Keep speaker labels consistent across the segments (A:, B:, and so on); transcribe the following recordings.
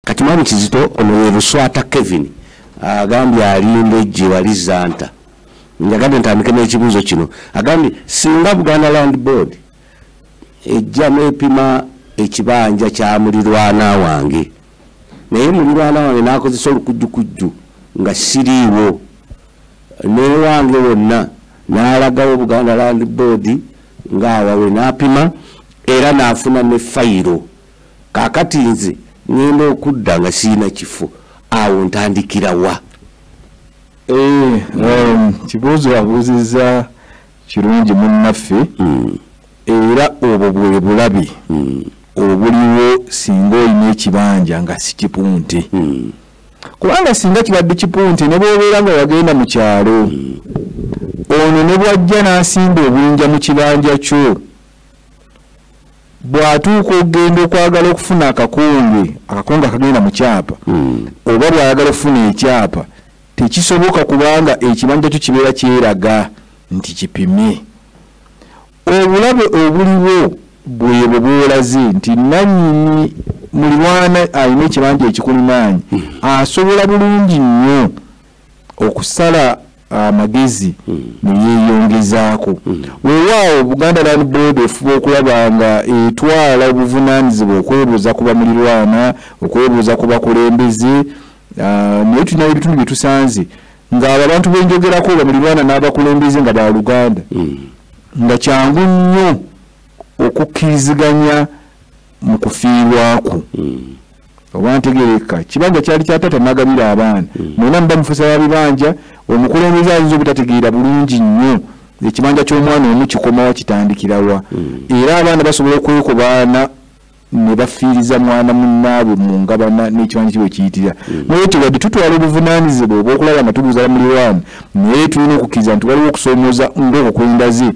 A: kati mwami kizito ono ye luswata kevin agambye alimba ejje wali zanta njagade ntandike n'ekibuuzo kino agambye singa buganda land board ejja n'epima ekibanja kya mulirwana wange naye mulirwana wange n'akozesa olukujjukujju nga siriiwo newange wonna n'alagawo buganda land board ng'awawe n'apima era n'afuna ne fayiro kakati nze ngenda okudda nga sirina kifo awo ntandikira wa eh, um,
B: kibuuzo abuuzizza kirungi munnaffe hmm. era obwo bwe bulabi hmm. obuliwo singa olina ekibanja nga sikipunte hmm. kubanga singa kibadde kipunte ne bwobeera nga wagenda mu kyalo ono ne bwajja n'asimba obunja mu kibanja kyo bw'atuuka okugenda okwagala okufuna akakonge akakonge akagenda mu kyapa hmm. oba bw'ayagala okufuna ekyapa tekisoboka kubanga ekibanja kyo kibeera kyeraga nti kipimye obulabe obuliwo bwebwo bwolaze nti nanyini mulirwana alina ekibanja ekikulimaanyi hmm. asobola bulungi nnyo okusala amagezi hmm. neyeyongezaako hmm. wewaawo buganda land board efuba okulaba nga etwala obuvunanyizibwa okwebuuza ku bamulirwana okwebuuza ku bakulembeze ah, naye tulina ebitundu byetusanze ngaabo abantu benjogerako bamulirwana n'abakulembeze nga baluganda hmm. nga kyangu nnyo okukkiriziganya mu kufiirwakwo hmm. oba ntegereka kibanja kyali kya taata nagabira abaana hmm. mwena muba mufusa ba bibanja omukulembeze ayinza obutategeera bulungi nnyo ekibanja ky'omwana omu kikomawa kitandikirawa hmm. era abaana basobola okwekobaana ne bafiiriza mwana munnaabwe mu ngabana n'ekibanja kibwe kiyitira naye ekyo wadde tutwala obuvunaanyizibwa obwokulaba nga tubuuzala muliraani naye tulina okukkiriza nti waliwo okusoomoza ng'okwo kwendaze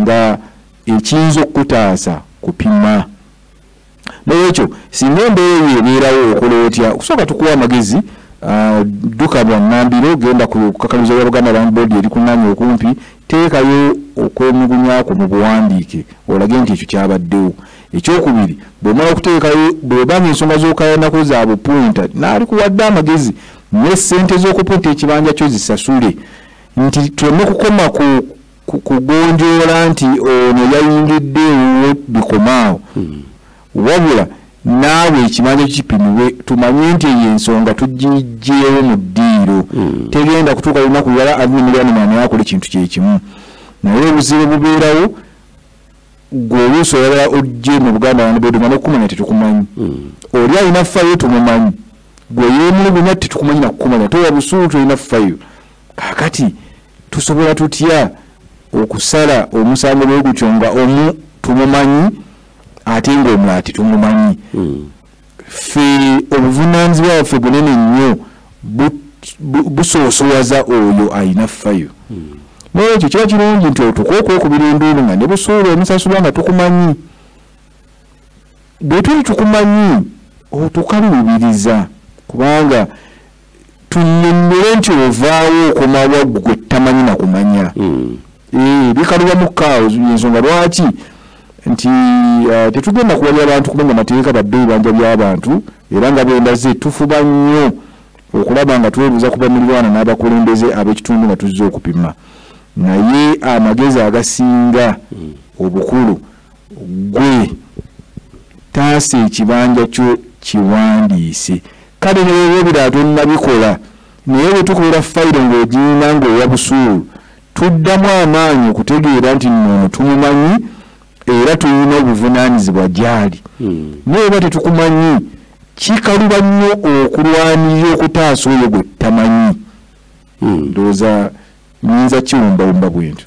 B: nga ekiyinza okukutaasa kupima nolwekyo singa embeera eyo ebeerawo okola otya okusooka tukuwa amagezi ah, dduka bwangambiro genda kukakaliza ya buganda land board erikunanya okumpi teekayo okwemugunyakwo mu buwandiike olage nti ekyo kyabaddewo ekyokubiri bwemala okuteekayo bwebanga ensonga zokayanako za bupunta naali kuwadde amagezi ne sente z'okupunta ekibanja kyo zisasule nti tuleme kukoma ku kugonjoola nti ono yayingidde ewuwo bikomaawo hmm. wabula naawe ekimanya kipimiwe tumanye nti eyo ensonga tugijjeewo mu ddiiro hmm. tegenda kutuuka lunaku lwala admilyanimani akola ekintu kyekimu naye obuzibu bubeerawo gwe oluusi olala ojje mu buganda wanbeduma nokukumanya tetukumanyi hmm. oli alina fayo tumumanyi gwe yemulugunya tetukumanyi nakukumanya towa busuulu tolina fayo kakati tusobola tutya okusala omusango bwegutyo nga omu tumumanyi ate ngaomulala tetumumanyi hmm. fe obuvunanyizibwa bwaffe bunene nnyo busoosowaza oyo alina fayo hmm. nolwekyo kiba kirungi nti otuka okwekubira enduulu nga nebusuula omusasulwa nga tukumanyi bwetuli tukumanyi otukalubiriza kubanga tunyonnyole nti ovaawo okomawa gwe tamanyi na kumanya hmm. eh, bikalubamu kaawo ensonga lwaki nti eh, tetugenda kuwalya abantu kumenya amateeka badde ebibanja by'abantu era nga bwendaze tufuba nnyo okulaba nga twebuuza ku bamulirwana n'abakulembeze ab'ekitundu nga tuzze okupima naye amagezi agasinga hmm. obukulu mm. gwe taasa ekibanja kyo kiwandiise kale newewobira tonnabikola naye bwe tukolera fayiro ng'ogiyina ng'owa busuulu tuddamu amaanyi okutegeera nti noono tumumanyi era tulina obuvunaanyizibwa gyali hmm. naye oba tetukumanyi kikaluba nnyo okulwanirira okutaasa oyo gwe tutamanyi hmm. ndowooza nyinza kiwumbawumba bwentyo